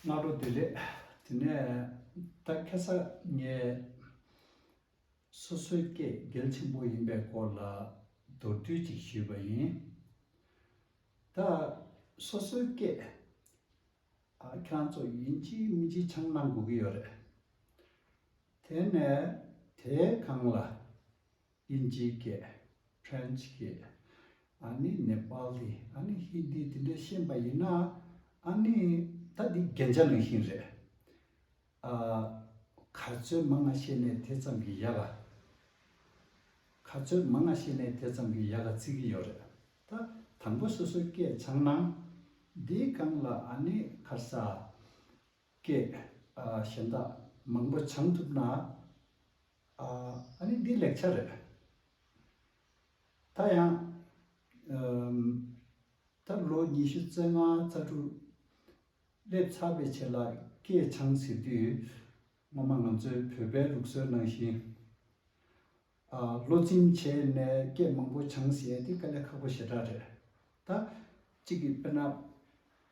སྔ་དྲོ་བདེ་ལེགས། དེ་ནས་ད་ཁེ་ས་ངས་སོ་སོའི་སྐད་སྒེར་ཆེན་པོ་ཡིན་པའི་སྐོར་ལ་མདོར་བསྡུས་ཅིག་ཞུས་པ་ཡིན། ད་སོ་སོའི་སྐད་ཁྱེད་རང་ཚོ་ཡིན་གཅིག་མིན་གཅིག་འཆང་གནང་དགོས་ཀྱི་ཡོད་རེད། དེ་ནས་དེའི་སྒང་ལ། དབྱིན་ཇིའི་སྐད། French། སྐད། ཨ་ནི་ནེ་པཱ་ལི་ཨ་ནི་ཧིན་དི་དེ་འདྲས་ཤེས་པ་ཡིན་ན། ཨ་ནི་ད་འདི་རྒྱན་ཆ་ནང་བཞིན་རེད། ཨ། ག་ཚོད་མ་ང་ཤེས་ནས་དེ་ཙམ་གྱི་ཡ་ག། ག་ཚོད་མ་ང་ཤེས་ནས་དེ་ཙམ་གྱི་ཡ་ག་བརྩི་གི་ཡོད་རེད། ད་དང་པོ་སོ་སོའི་སྐད་ཚང་ན། འདིའི་སྒང་ལ་ཨ་ནི་ཁར་ས། སྐད། གཞན་དག་མང་པོ་བྱང་ཐུབ་ན། ཨ་ནི་འདི་ལེགས་ཆ་རེད། ད་ཡང། ཐབས་ལོ་ཉི་ཤུ་རྩ་ལྔ་རྩ་དྲུག། སླེབས་ཚར་བའི་ཆེད་ལ་སྐད་འཆང་ཟེར་དུས། སྔོན་མ་ང་ཚོའི་བོད་པའི་ལུགས་སྲོལ་ནང་བཞིན། ལོ་ཚིམ་བྱས་ནས་སྐད་མང་པོ་འཆང་ཟེར་ཡ་དེ་དཀའ་ལས་ཁག་པོ་ཞེ་དྲག་རེད། ད། གཅིག་གིས་དཔེར་ན།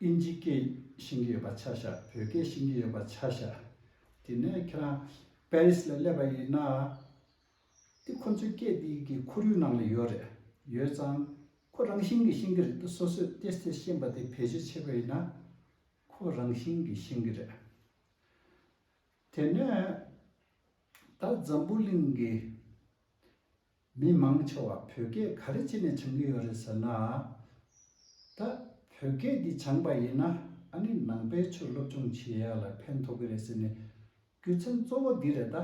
ཨིན་ཇི་སྐད་བཤད་གི་ཡོད་པ་ཆ་ཤ་བོད་སྐད་བཤད་གི་ཡོད་པ་ཆ་ཤ་དེ་ནས་ཁྱེད་རང་པེ་རིས་ལ་སླེབས་པ་ཡིན་ན་དེ་ཁོ་ཚོའི་སྐད་དེ་གི་ཁོར་ཡུག་ནང་ལ་ཡོད་རེད་ཡོད་ཙང་ཁོ་རང་བཞིན་གི་བཤད་གི་རེད་དེ་སོ་སོས་ཏེ་སྟེ་བཤད་པ་དེ་ཕལ་ཆེར་ཆེ་བ་ཡིན་ན་ཁོ་རང་བཞིན་གི་བཤད་གི་རེད། དེ་ནས་ད་འཛམ་བུ་གླིང་གི། མི་མང་ཆེ་བ་བོད་སྐད་ག་རེ་བྱས་ནས་འཆང་གི་ཡོད་རེད་ཟེར་ན། ད་བོད་སྐད་འདི་སྦྱངས་པ་ཡིན་ན་ཨ་ནི་ནང་པའི་ཆོས་སློབ་སྦྱོང་བྱེད་ཡག་ལ་ཕན་ཐོགས་ཀྱི་རེད་ཟེར་ནས། རྒྱུ་མཚན་གཙོ་བོ་འདི་རེད་ད།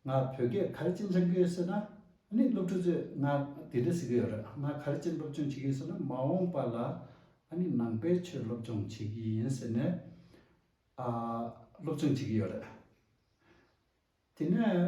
ང་བོད་སྐད་ག་རེ་བྱས་འཆང་གི་ཡོད་ཟེར་ན། ཨ་ནི་སློབ་ཕྲུག་ཚོས་ང་འདི་འདྲ་ཟེར་གི་ཡོད་རེད་ང་ག་རེ་བྱས་སློབ་སྦྱོང་བྱེད་ཀྱི་ཡོད་ཟེར་ན་མ་འོངས་པ་ལ་ཨ་ནི་ནང་པའི་ཆོས་སློབ་སྦྱོང་བྱེད་ཀྱི་ཡིན་ཟེར་ནས། སློབ་སྦྱོང་བྱེད་ཀྱི་ཡོད་རེད། དེ་ནས།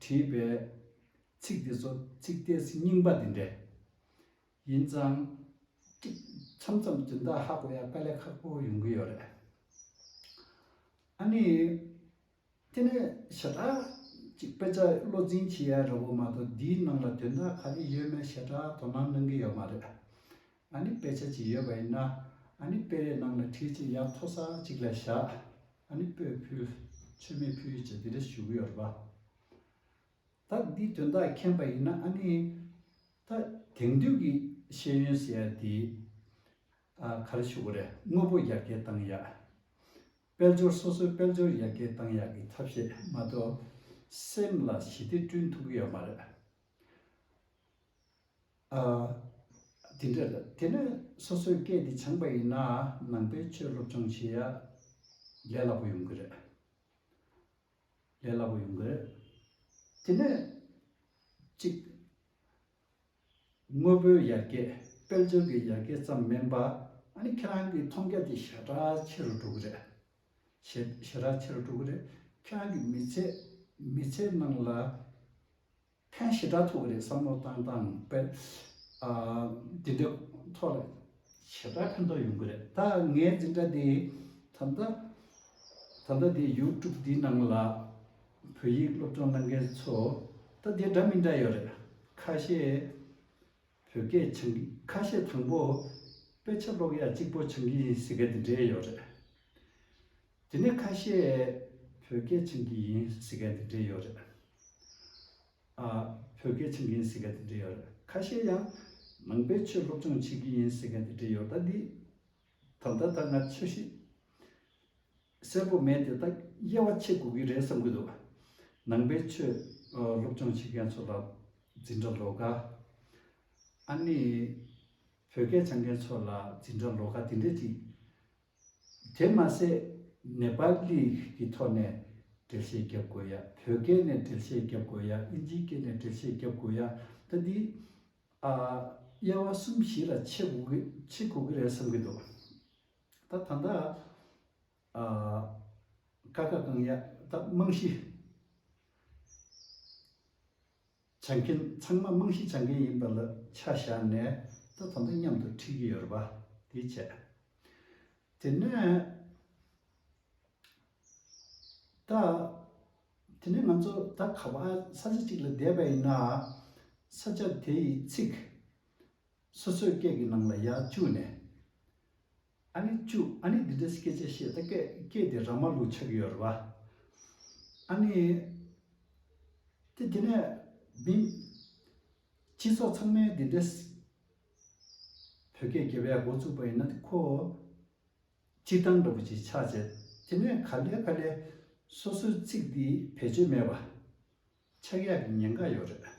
བྲིས་པའི་ཚིག་འདི་ཚོ་ཚིག་གཏད་ཚིག་རྙིང་པ་འདི་འདྲས་ཡིན་ཙང། མཚམས་མཚམས་སྦྱིན་བདག་ཧ་གོ་ཡ་དཀའ་ལས་ཁག་པོ་ཡོང་གི་ཡོད་རེད། ཨ་ནི། དེ་ནས་ཞེ་དྲག་ཅིག་དཔེ་ཆ་བློ་འཛིན་བྱེད་ཡ་རེད་བོ་མ་གཏོགས་འདིའི་ནང་ལ་དོན་དག་ག་རེ་ཡོད་མེད་ཞེ་དྲག་དོ་སྣང་གནང་གི་ཡོད་མ་རེད། ཨ་ནི་དཔེ་ཆ་གཅིག་ཡོད་པ་ཡིན་ན། ཨ་ནི་དཔེ་རས་ནང་ལ་ཁྲིད་ཅིག་ཡར་མཐོ་ས་གཅིག་ལ་བཞག། ཨ་ནི་སྤོས་ཕུལ། མཆོད་མེ་ཕུལ་བཅས་དེ་འདྲ་ཞུ་གི་ཡོད་རེད་པ། ད་འདིའི་དོན་དག་མཁྱེན་པ་ཡིན་ན་ཨ་ནི། ད་དེང་དུས་ཀྱི་ཤེས་ཡོན་ཟེར་ཡ་འདི། ཨ་ག་རེ་ཞུ་གི་རེད་དངོས་པོ་ཡར་རྒྱས་བཏང་ཡག། དཔལ་འབྱོར་སོ་སོའི་དཔལ་འབྱོར་ཡར་རྒྱས་བཏང་ཡག་གི་ཐབས་ཤེས་མ་གཏོགས། སེམས་ལ་ཞི་བདེ་བསྐྲུན་ཐུབ་ཀྱི་ཡོད་མ་རེད། དེ་འདྲ་རེད་དེ་ནས་སོ་སོའི་སྐད་དེ་སྦྱངས་པ་ཡིན་ན་ནང་པའི་ཆོས་སློབ་སྦྱོང་བྱེད་ཡ་ལས་སླ་པོ་ཡོང་གི་རེད། ལས་སླ་པོ་ཡོང་གི་རེད། དེ་ནས་གཅིག། དངོས་པོའི་ཡར་རྒྱས་དཔལ་འབྱོར་གྱི་ཡར་རྒྱས་ཙམ་མིན་པ་ཨ་ནི་ཁྱེད་རང་གི་མཐོང་རྒྱ་དེ་ཞེ་དྲག་ཆེ་རུ་འགྲོ་གི་རེད། ཞེ་དྲག་ཆེ་རུ་འགྲོ་གི་རེད། ཁྱེད་རང་གི་མི་ཚེ་མི་ཚེ་ནང་ལ། ཕན་ཞེ་དྲག་ཐུག་གི་རེད་བསམ་བློ་བཏང་བཏང་པས་དེ་འདྲའི་ཐོག་ལ་ཞེ་དྲག་ཕན་ཐོག་ཡོང་གི་རེད་ད་ངའི་འཛིན་གྲྭ་དེ་ད་ལྟ་ད་ལྟ་དེ YouTube དེའི་ནང་ལ་བོད་ཡིག་སློབ་སྦྱོང་གནང་མཁན་ཚོ་ད་དེ་འདྲ་མི་འདྲ་ཡོད་རེད་ཁ་ཤས། བོད་སྐད་ཆང་གིས་ཁ་ཤས་དང་པོ། དཔེ་ཆ་ཀློག་ཡག་གཅིག་པོ་ཆང་གིས་ཟེར་མཁན་དེ་འདྲས་ཡོད་རེད། དེ་ནས་ཁ་ཤས། བོད་སྐད་ཆང་གིས་ཡིན་ཟེར་མཁན་དེ་འདྲས་ཡོད་རེད། ཨ། བོད་སྐད་ཆང་གིས་ཡིན་ཟེར་མཁན་དེ་འདྲས་ཡོད་རེད། ཁ་ཤས་ཡང། ནང་པའི་ཆོས་སློབ་སྦྱོང་བྱེད་ཀྱི་ཡིན་ཟེར་མཁན་དེ་འདྲས་ཡོད་རེད། ད་ལྟ་ད་སྔ་ཆོས་ཤིག། གསལ་པོ་མེད་དེ་ད་དབྱེ་བ་ཆེ་དགོས་ཀྱི་རེད་བསམ་གྱི་འདུག་ནང་པའི་ཆོས་སློབ་སྦྱོང་བྱེད་མཁན་ཚོ་ལ་འཛིན་གྲྭ་ལོག་ག་ཨ་ནི་བོད་སྐད་སྦྱང་མཁན་ཚོ་ལ་འཛིན་གྲྭ་ལོག་ག་དེ་འདྲས་ཅིག་དེ་མ་ཟད་ནེ་པ་ལི་གི་ཐོག་ནས་འགྲེལ་བཤད་རྒྱབ་དགོས་ཡ་བོད་སྐད་ནས་འགྲེལ་བཤད་རྒྱབ་དགོས་ཡ་ཨིན་ཇིའི་སྐད་ནས་འགྲེལ་བཤད་རྒྱབ་དགོས་ཡ་ད་འདི་ཨ་དབྱེ་བ་གསུམ་བཞི་ལ་ཕྱེ་དགོས་ཀྱི་རེད་བསམ་གྱི་འདུག་ད་ད་ད། ཀ་ཀ་གང་ཡག་ད་རྨང་གཞི་བྱ་མཁན་ཚང་མ་རྨང་གཞི་བྱ་མཁན་ཡིན་པ་ལ་ཆ་བཞག་ནས་ད་ད་ད་མཉམ་དུ་ཁྲིད་ཀྱི་ཡོད་རེད་པ་དེ་བྱས། དེ་ནས་ད། དེ་ནས་ང་ཚོ་ད་ག་པ་ས་ཆ་གཅིག་ལ་བསྡད་པ་ཡིན་ན། ས་ཆ་དེ་ཡི་ཚིག། སོ་སོའི་སྐད་ཀྱི་ནང་ལ་ཡ་བཅུག་ནས། ཨ་ནི་བཅུག་ཨ་ནི་འདི་འདྲའི་སྐད་ཆ་བཤད་ད་སྐད་སྐད་དེ་ར་མ་ལུག་ཆགས་ཀྱི་ཡོད་རེད་བ། ཨ་ནི། དེ་དེ་ནས་མིན། སྤྱི་ཚོགས་ཚང་མས་འདི་འདྲའི། བོད་སྐད་རྒྱལ་བས་འགོ་བཙུགས་པ་ཡིན་ན་དེ་ཁོ། སྤྱིར་བཏང་འདྲ་པོ་ཅིག་ཆགས་བྱས། དེ་ནས་ག་ལེ་ཕ་ལེ། སོ་སོའི་ཚིག་འདི་བེད་སྤྱོད་མེད་བ། ཆགས་ཡག་གི་ཉེན་ཁ་ཡོད་རེད།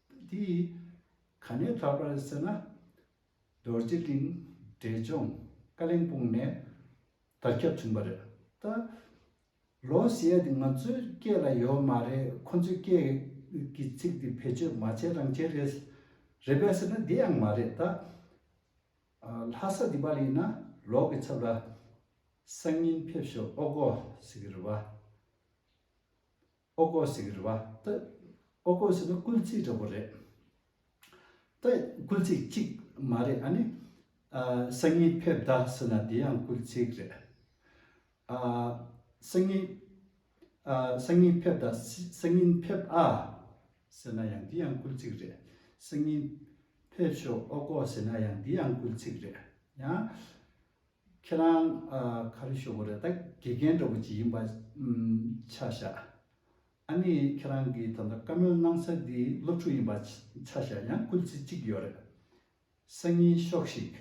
དེ་ཡིས་ག་ནས་དྲག་པར་བསད་ན། རྡོ་རྗེ་གླིང་འབྲས་ལྗོངས་བཀའ་གླིང་སྤུངས་ནས་དར་ཁྱབ་བྱུང་བ་རེད། ད་ལོ་ཞེས་ང་ཚོའི་སྐད་ལ་ཡོད་མ་རེད་ཁོ་ཚོའི་སྐད་ཀྱི་ཚིག་འདི་བེད་སྤྱོད་མ་བྱས་རང་བྱས་རེད། རེད་པས་ཟེར་ན་དེ་ཡང་མ་རེད་ད། ལྷ་ས་འདི་པར་ཡིན་ན་ལོག་གི་ཚབ་ལ་སང་ཉིན་ཕེབས་ཞོག་ཨོ་གོ་ཟེར་གི་རེད་བ། ཨོ་ཀོ་སི་གི་རུ་བ་སྟེ། ཨོ་ཀོ་སི་ནི་སྐུལ་ཚིག་འདྲ་བོ་རེད་དེ། སྐུལ་ཚིག་གཅིག་མ་རེད་ཨ་ནི། སང་ཉིན་ཕེབས་གདའ་ཟེར་ན་དེ་ཡང་སྐུལ་ཚིག་རེད། སང་ཉིན། སང་ཉིན་ཕེབས་གདའ། སང་ཉིན་ཕེབས་ཨ། ཟེར་ན་ཡང་དེ་ཡང་སྐུལ་ཚིག་རེད། སང་ཉིན། ཕེབས་ཤོག་ཨོ་ཀོ་ཟེར་ན་ཡང་དེ་ཡང་སྐུལ་ཚིག་རེད། ཡང། ཁྱེད་རང་ག་རེ་ཤོག་གོ་རེད་ད་དགེ་རྒན་འདྲ་བོ་ཅིག་ཡིན་པ་ཆ་བཞག་ཨ་ནི་ཁྱེད་རང་གི་ད་ལྟ་བཀའ་མོལ་གནང་ས་འདི་སློབ་ཕྲུག་ཡིན་པ་ཆ་བཞག་ཡང་སྐུལ་ཚིག་གཅིག་ཡོད་རེད་སང་ཉིན་ཤོག་ཤིག་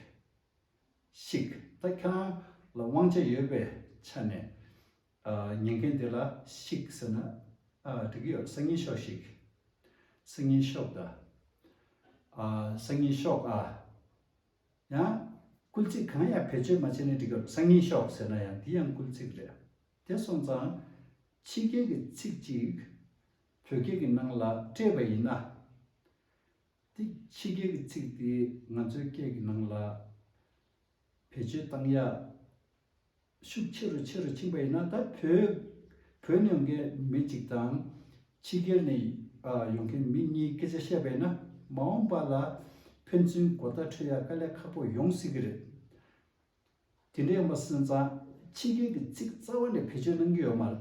ཤིག་ད་ཁྱེད་རང་ལ་དབང་ཆ་ཡོད་པའི་ཆ་ནས་ཉན་མཁན་དེ་ལ་ཤིག་ཟེར་ན་འགྲིག་གི་ཡོད་སང་ཉིན་ཤོག་ཤིག་སང་ཉིན་ཤོག་ད་སང་ཉིན་ཤོག་ཨ། ཡང། སྐུལ་ཚིག་གང་ཡང་བེད་སྤྱོད་མ་བྱས་ནས་འབྲི་དགོས་སང་ཉིན་ཤོག་ཟེར་ན་ཡང་འདི་ཡང་སྐུལ་ཚིག་རེད། དེ་སོང་ཙང། ཕྱི་རྒྱལ་གྱི་ཚིག་ཅིག། བོད་སྐད་ཀྱི་ནང་ལ་སྤྲད་པ་ཡིན་ན། དེ་ཕྱི་རྒྱལ་གྱི་ཚིག་དེ་ང་ཚོའི་སྐད་ཀྱི་ནང་ལ་བེད་སྤྱོད་བཏང་ཡག། ཤུགས་ཆེ་རུ་ཆེ་རུ་ཕྱིན་པ་ཡིན་ན་ད་བོད་བོད་ནས་ཡོང་མཁན་མི་གཅིག་དང། ཕྱི་རྒྱལ་ནས་ཡོང་མཁན་མི་གཉིས་སྐད་ཆ་བཤད་པ་ཡིན་ན་མ་འོངས་པ་ལ་ཕན་ཚུན་མགོ་བརྡ་འཕྲོད་ཡ་དཀའ་ལས་ཁག་པོ་ཡོང་སྲིད་ཀྱི་རེད། དེ་འདྲ་ཡོང་པ་སོན་ཙང་ཕྱི་རྒྱལ་གྱི་ཚིག་རྩ་བ་ནས་བེད་སྤྱོད་གནང་གི་ཡོད་མ་རེད།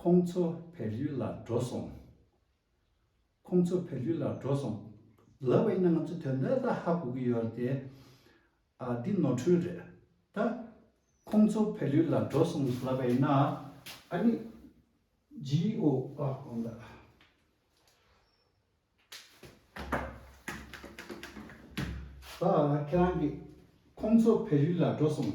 ཁོང་ཚོ་བལ་ཡུལ་ལ་འགྲོ་སོང། ཁོང་ཚོ་བལ་ཡུལ་ལ་འགྲོ་སོང། ལབ་བས་ན་ང་ཚོ་དོན་དག་ལ་ཧ་གོ་གི་ཡོད་རེད་དེ། ཨ་འདི་ནོར་འཁྲུལ་རེད་ད། ཁོང་ཚོ་བལ་ཡུལ་ལ་འགྲོ་སོང་ལབ་བས་ན་ཨ་ནི། GO ཨ་གོང་ལ། ད་ཁྱེད་རང་གིས་ཁོང་ཚོ་བལ་ཡུལ་ལ་འགྲོ་སོང།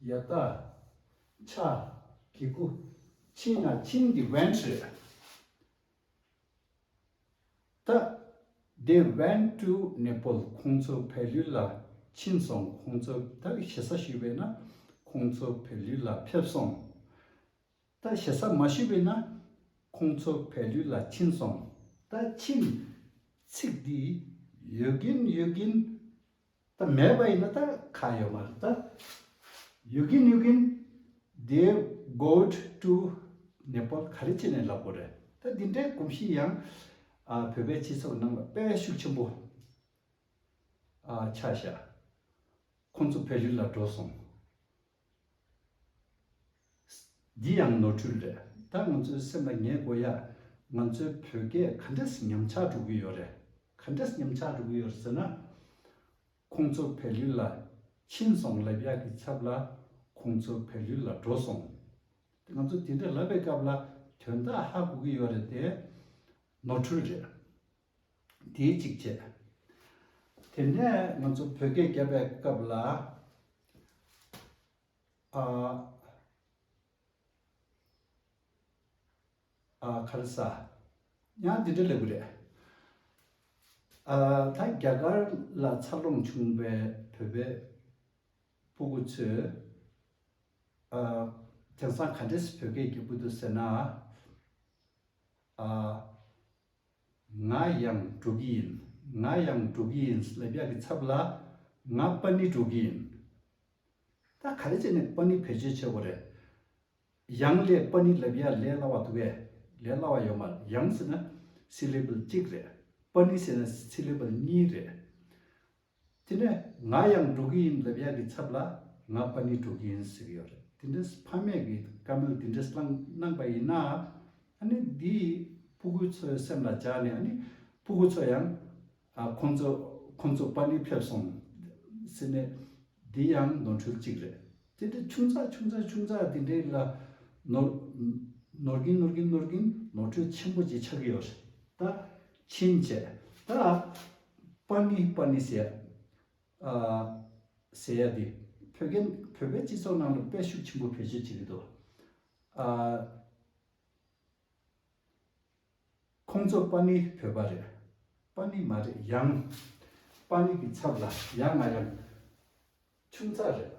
ཡར་དག། ཕྱག་གི་སྐུ། ཕྱི་ན་ཁྱིམ་གྱི་བན་ཁྲི། ཏདེ་བན་ཀྲུ་ནེ་སྤོལ་ཁོང་ཚོ་བལ་ཡུལ་ལ་ཕྱིན་སོང་ཁོང་ཚོ་ད་ཞེ་ས་ཞུས་པས་ན་ཁོང་ཚོ་བལ་ཡུལ་ལ་ཕེབས་སོང། ད་ཞེ་ས་མ་ཞུས་པས་ན་ཁོང་ཚོ་བལ་ཡུལ་ལ་ཕྱིན་སོང། ད་ཕྱིན། ཚིག་འདི་ཡོད་གིན་ཡོད་གིན། ད་མེད་པ་ཡིན་ན་ད་ཁ་ཡོད་མ་རེད་ད། ཡོད་གིན་ཡོད་གིན། Dear Goat to Nepal ག་རེ་བྱས་ནས་ལབ་པོ་རེད། ད་འདི་འདྲའི་གོམས་གཤིས་ཡང་བོད་པའི་སྤྱི་ཚོགས་ནང་ལ་དཔལ་ཤུགས་ཆེན་པོ་ཆགས་ཤག། ཁོང་ཚོ་བལ་ཡུལ་ལ་འགྲོ་སོང། འདི་ཡང་ནོར་འཁྲུལ་རེད་ད་ང་ཚོའི་སེམས་ལ་ངེས་དགོས་ཡ། ང་ཚོའི་བོད་སྐད་ག་འདྲས་ཉམས་ཆག་འགྲོ་གི་ཡོད་རེད་ག་འདྲས་ཉམས་ཆག་འགྲོ་གི་ཡོད་རེད་ཟེར་ན། ཁོང་ཚོ་བལ་ཡུལ་ལ་ཕྱིན་སོང་ལབ་ཡག་གི་ཚབ་ལ་ཁོང་ཚོ་བལ་ཡུལ་ལ་འགྲོ་སོང། དེ་ང་ཚོ་དེ་འདྲ་ལབ་པའི་སྐབས་ལ་དོན་དག་ཧ་གོ་གི་ཡོད་རེད་དེ། ནོར་འཁྲུལ་རེད། དེའི་གཅིག་བྱས། དེ་ནས་ང་ཚོ་བོད་སྐད་རྒྱབ་པའི་སྐབས་ལ། ཨཱཁཱལས། ཡང་འདི་འདྲ་ལེགས་པོ་རེད། ད་རྒྱ་གར་ལ་འཚར་ལོངས་བྱུང་བའི་བོད་པའི་སྤུ་གུ་ཚོས། དེང་སང་ག་འདྲས་བོད་སྐད་རྒྱབ་ཀྱི་འདུག་ཟེར་ན། ང་ཡང་འགྲོ་གི་ཡིན། ང་ཡང་འགྲོ་གི་ཡིན། ལ་རྒྱ་གི་ཚབ་ལ། ང་པ་ནི་འགྲོ་གི་ཡིན། ད་ག་རེ་བྱས་ནས་པ་ནི་བེད་སྤྱོད་བྱེད་དགོས་རེད། ཡང་ལས་པ་ནི་ལ་རྒྱ་ལས་སླ་བ་འདུག་གས། ལས་སླ་བ་ཡོད་མ་རེད། ཡང་ཟེར་ན། Syllable གཅིག་རེད། པ་ནི་ཟེར་ན Syllable གཉིས་རེད། དེ་ནས་ང་ཡང་འགྲོ་གི་ཡིན་ལབ་ཡག་གི་ཚབ་ལ་ང་པ་ནི་འགྲོ་གི་ཡིན་ཟེར་གི་ཡོད་རེད་དེ་འདྲས་ཕ་མས་གི་བཀའ་མོལ་དེ་འདྲས་བླང་གནང་པ་ཡིན་ན་ཨ་ནི་དེ་ཕུ་གུ་ཚོའི་སེམས་ལ་འཇགས་ནས་ཨ་ནི་ཕུ་གུ་ཚོ་ཡང་ཁོང་ཚོ་ཁོང་ཚོ་པ་ནི་ཕེབས་སོང་ཟེར་ནས་དེ་ཡང་ནོར་འཁྲུལ་གཅིག་རེད་དེ་འདྲས་ཆུང་ཙག་ཆུང་ཙག་ཆུང་ཙག་དེ་འདྲས་ལ་ནོར་ནོར་གིན་ནོར་གིན་ནོར་གིན་ནོར་འཁྲུལ་ཆེན་པོ་གཅིག་ཆགས་གི་ཡོད་རེད་ད། ཕྱིན་ཆད་ད་པར་ནི་པར་ནི་ཟེར་ཡ་འདི་བོད་ཀན་བོད་པའི་སྤྱི་ཚོགས་ནང་ལ་དཔེ་ཤུགས་ཆེན་པོ་བེད་སྤྱོད་བྱེད་ཀྱི་འདུག་ཁོང་ཚོ་པར་ནི་བོད་པ་རེད་པར་ནི་མ་རེད་ཡང་པར་ནི་གི་ཚབ་ལ་ཡང་ང་ཡང་ཆུང་ཚག་རེད།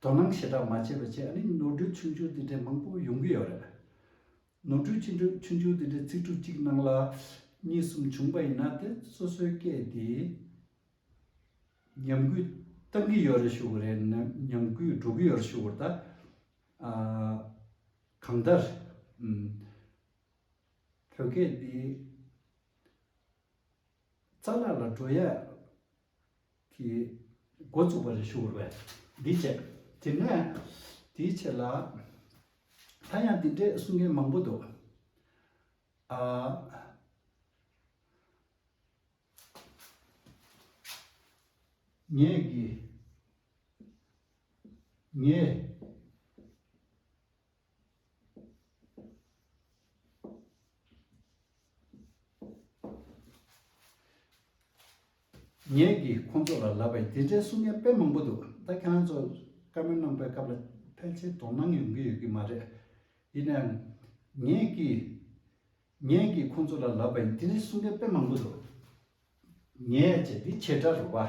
དོ་སྣང་ཞེ་དྲགས་མ་བྱས་པ་བཅས་ཨ་རིའི་ནོར་འཁྲུལ་ཆུང་ཆུང་དེ་འདྲའི་མང་པོ་ཡོང་གི་ཡོད་རེད། ནོར་འཁྲུལ་ཆུང་འཁྲུལ་ཆུང་ཆུང་དེ་འདྲའི་ཚིག་འབྲུ་གཅིག་ནང་ལ་གཉིས་གསུམ་བྱུང་པ་ཡིན་ན་དེ་སོ་སོའི་སྐད་དེ་ཉམས་རྒུད་གཏང་གི་ཡོད་རེད་ཞུ་གི་རེད་ཉམས་རྒུད་འགྲོ་གི་ཡོད་རེད་ཞུ་གི་རེད་ད། གང་ལྟར། བོད་སྐད་འདི། རྩ་ལག་ལ་སྒྲོ་ཡལ་གྱི་སྒོ་བཙུགས་པ་རེ་ཞུ་བར་བས། འདིའི་ཆེད། དེ་ནས་དེའི་ཆེད་ལ། ད་ཡང་འདི་འདྲའི་གསུང་མཁན་མང་པོ་འདུག། ཨ། ངས་ཀྱི། ངས། ངས་ཀྱི་ཁོང་ཚོ་ལ་ལབ་པའི་དེ་འདྲའི་གསུང་སྙན་དཔེ་མང་པོ་འདུག་ད་ཁྱེད་རང་ཚོ་བཀའ་མོལ་གནང་པའི་སྐབས་ལ་ཕལ་ཆེར་དོ་སྣང་ཡོང་གི་ཡོད་ཀྱི་མ་རེད། ཡིན་ནའང། ངས་ཀྱི། ངས་ཀྱི་ཁོང་ཚོ་ལ་ལབ་པའི་དེ་འདྲའི་གསུང་སྙན་དཔེ་མང་པོ་འདུག་ངས་ཀྱི་འདི་ཁྱེད་དྲ་རུ་བ།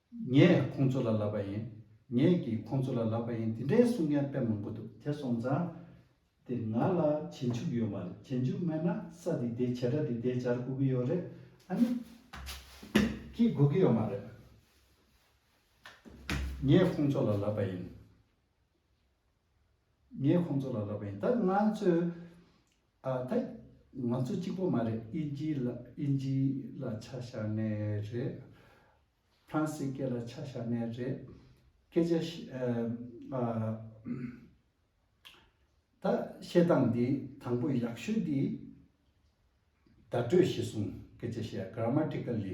ངས་ཁོང་ཚོ་ལ་ལབ་པ་ཡིན། ངས་ཀྱིས་ཁོང་ཚོ་ལ་ལབ་པ་ཡིན་དེ་འདྲའི་གསུང་མཁན་དཔེ་མང་པོ་འདུག། དེ་སོང་ཙང། དེ་ང་ལ་བྱེད་འཇུག་ཡོད་མ་རེད་བྱེད་འཇུག་མེད་ན་ས་འདི་དེ་བྱེད་སྒྲ་འདི་དེ་བྱར་སྒུག་གི་ཡོད་རེད་ཨ་ནི། ཀྱིས་སྒུག་གི་ཡོད་མ་རེད། ངས་ཁོང་ཚོ་ལ་ལབ་པ་ཡིན། ངས་ཁོང་ཚོ་ལ་ལབ་པ་ཡིན་ད་ང་ཚོས། ཨ་ཐེ། ང་ཚོ་གཅིག་པོ་མ་རེད་ཨིན་ཇི་ལ་ཨིན་ཇི་ལ་ཆ་བཞག་ནས་རེད། ཕ་རན་སི་སྐད་ལ་ཆ་བཞག་ནས་རེད། སྐད་ཆ་བཤད། ད་བཤད་སྟངས་འདི་དང་པོ་ཡག་ཤོས་འདི། བརྡ་སྤྲོད་ཞེས་གསུངས་སྐད་ཆ་བཤད Grammatically།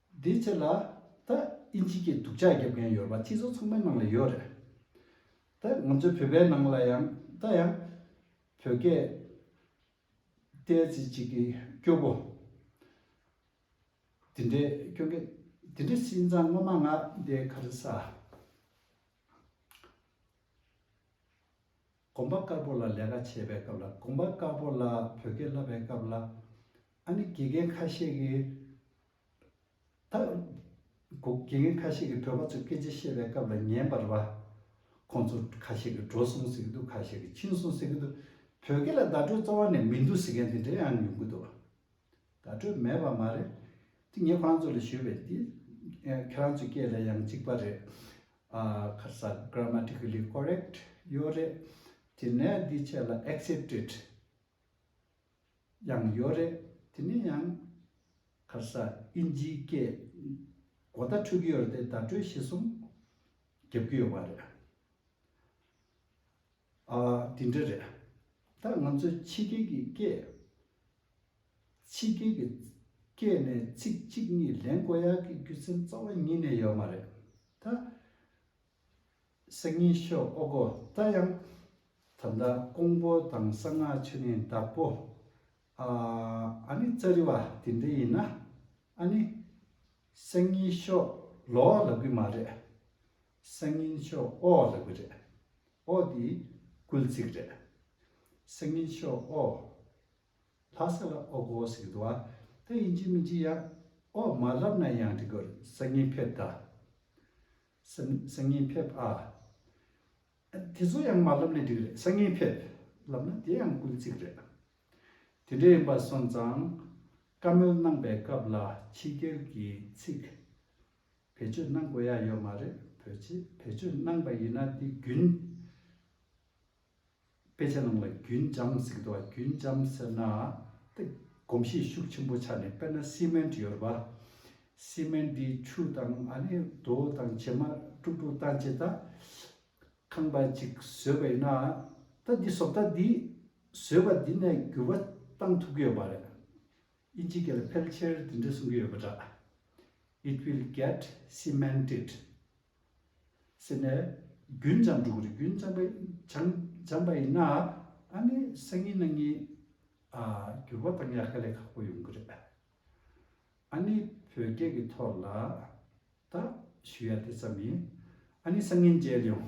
དེའི་ཕྱིར་ལ། ད་ཨིན་ཇི་ཀྱི་སྡུག་ཆགས་བརྒྱབ་མཁན་ཡོད་པ་སྤྱི་ཚོགས་ཚང་མའི་ནང་ལ་ཡོད་རེད། ད་ང་ཚོའི་བོད་པའི་ནང་ལ་ཡང་ད་ཡང། བོད་སྐད། ཏའི་ཙི་ཅིག་གི་སྐྱོ་པོ། དེ་འདྲའི་སྐྱོ་འགས། དེ་འདྲའི་སེམས་ཙང་ངོ་མ་ང་འདའི་ཁར་ས། གོམ་པ་དཀར་པོ་ལ་ལས་ཀ་བྱེད་པའི་སྐབས་ལ་གོམ་པ་དཀར་པོ་ལ་བོད་སྐད་བསླབ་པའི་སྐབས་ལ། ཨ་ནི་དགེ་རྒན་ཁ་ཤས་ཀྱིས། ད། དགེ་རྒན་ཁ་ཤས་ཀྱིས་བོད་པ་ཚོས་སྐད་ཆ་བཤད་པའི་སྐབས་ལ་ཉན་པར་བ། ཁོང་ཚོ་ཁ་ཤས་ཀྱིས་འགྲོ་སོང་ཟེར་གྱི་འདུག་ཁ་ཤས་ཀྱིས་ཕྱིན་སོང་ཟེར་གྱི་འདུག་བོད་སྐད་ལ་བརྡ་སྤྲོད་རྩ་བ་ནས་མི་འདུག་ཟེར་མཁན་དེ་འདྲ་ཡང་ཡོང་གི་འདུག། བརྡ་སྤྲོད་མེད་པ་མ་རེད། དེ་ངས་ཁོ་རང་ཚོ་ལ་ཞུས་པས། ཁྱེད་རང་ཚོའི་སྐད་ལ་ཡང་གཅིག་པ་རེད། ཁ་གསལ Grammatically Correct ཡོད་རེད། དེ་ནས་འདི་བྱས་ལ Accepted ཡང་ཡོད་རེད། དེ་ནས་ཡང་ཁ་གསལ་ཨིན་ཇིའི་སྐད་གོ་བརྡ་འཕྲོད་ཀྱི་ཡོད་རེད་དེ་བརྡ་སྤྲོད་བྱེད་གསུམ་རྒྱབ་ཀྱི་ཡོད་པ་རེད། འདི་འདྲ་རེད། ད་ང་ཚོས་ཕྱི་རྒྱལ་གྱི་སྐད། ཕྱི་རྒྱལ་གྱི་སྐད་ནས་ཚིག་གཅིག་གཉིས་ལེན་དཀོན་ཡག་གི་རྒྱུ་མཚན་གཙོ་བོ་གཉིས་ནས་ཡོད་མ་རེད་ད། སང་ཉིན་ཤོག་ཨོ་གོ་ད་ཡང། ད་ལྟ་ཀོང་པོ་དང་གསང་སྔགས་ཆུ་ནི་བདག་པོ། ཨ་ཨ་ནི་རྩ་རི་བ་དེ་འདྲ་ཡིན་ན། ཨ་ནི། སང་ཉིན་ཤོག་ལོ་ལབ་གི་མ་རེད། སང་ཉིན་ཤོག་ཨོ་ལབ་གི་རེད། ཨོ་དེ་སྐུལ་ཚིག་རེད། སང་ཉིན་ཤོག་ཨོ། ལྷ་ས་ལ་ཨོ་གོ་ཟེར་གི་འདུག་ཨ་ད་ཡིན་གྱི་མིན་གྱི་ཡ། ཨོ་མ་ལབ་ན་ཡང་འགྲིག་གི་སང་ཉིན་ཕེབས་ད། སང་ཉིན་ཕེབས་ཨ། དེ་ཚོ་ཡང་མ་ལབ་ན་འགྲིག་རེད་སང་ཉིན་ཕེབས། ལབ་ན་དེ་ཡང་ཀུན་གཙིགས་རེད། དེ་འདྲ་ཡིན་པ་སོང་ཙང། བཀའ་མོལ་གནང་པའི་སྐབས་ལ་ཕྱི་རྒྱལ་གྱི་ཚིག། བེད་སྤྱོད་གནང་དགོས་ཡ་ཡོད་མ་རེད་བོད་ཕྱི་བེད་སྤྱོད་གནང་པ་ཡིན་ན་དེ་རྒྱུན། དཔེ་ཆ་ནང་ལ་རྒྱུན་འབྱམས་གཟིགས་འདུག་རྒྱུན་འབྱམས་ཟེར་ན་ཏེ། གོམས་གཤིས་ཤུགས་ཆེན་པོ་ཆགས་ནས་དཔེར་ན་སི་མན་ཏི་ཡོད་རེད་པ། སི་མན་ཏི་ཆུ་དང་ཨ་ནི་རྡོ་དང་བྱེ་མ་དཀྲུག་དཀྲུག་བཏང་རྗེས་ད། ཁང་པ་གཅིག་བཟོས་པ་ཡིན་ན། ད་འདི་བཟོ་ད་འདི། བཟོས་པ་འདི་ནས་འགྱུར་བ་གཏང་ཐུབ་ཀྱི་ཡོད་པ་རེད། དབྱིན་ཇི་སྐད་ལ་ཕལ་ཆེར་འདི་འདྲ་གསུང་གི་ཡོད་པ་འདྲ། It will get cemented། ཟེར་ནས། རྒྱུན་འབྱམས་འབྲུག་རི་རྒྱུན་འབྱམས་པའི་འབྱམས་པ་ཡིན་ན། ཨ་ནི་སང་ཉིན་གནངས་ཉིན། འགྱུར་བ་དང་ཡག་ག་ལས་ཁག་པོ་ཡོང་གི་རེད། ཨ་ནི་བོད་སྐད་ཀྱི་ཐོག་ལ། ད་ཞུ་ཡ་དེ་ཙམ་ཡིན། ཨ་ནི་སང་ཉིན་མཇལ་ཡོང།